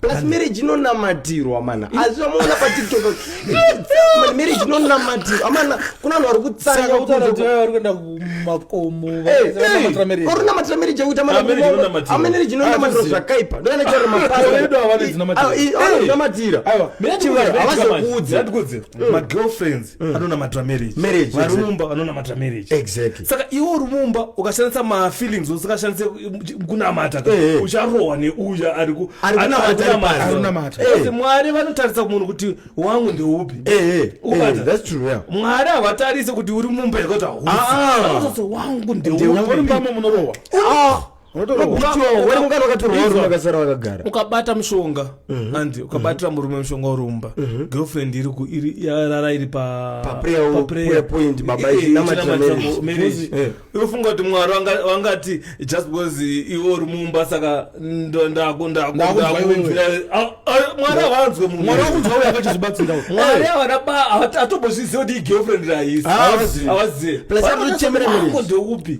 plus marriage inonamatirwa mana azvivamuona patiktok marriage inonamatirwa amana kuna vanhu vari kutsaaorinamatira marriage yekuti amarriage inonamatirwa zvakaipa ndoanacharomaaamatira havazokuudza mm. magirlfriends mm. anonamatira marriage marriage varumumba vanonamatira marriage exactly saka iwo rumumba ukashandisa mafeelings usikashandise kunamata hey, eh, hey. Eh. ucharohwa neuya ari kunamata hey. Eh. mwari vanotarisa kumunhu kuti wangu ndeupi hey, hey. yeah. mwari havatarise kuti uri mumba yekuti hausi ah, ah. wangu ndeupi munorovha ah. ukabata mushonga mhm. andi mhm. ukabatira murume mushonga urumba mhm. girlfriend iriyarara iri paprayofunga kuti mwari wangati just because iwe uri mumba saka ndakunzwira ah, ah, mwari avanzwe mwari avanabatombozviziva kuti igirlfriend raisi avazive plasatochemeremeupi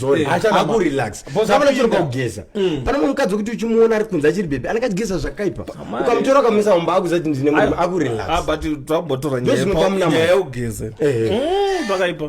sorry achana Aku relax Boss kama nachiro apinda. kugeza Mm. pana mumwe mukadzi wekuti uchimuona ari kunze achiri bebe anenge achigeza zvakaipa Amai. ukamutora ukamisa mumba akuziva kuti ndine munhu aku relax Ah, but takumbotora Ndozvinopa munamato. nyaya yekugeza Eh. Mm, pakaipa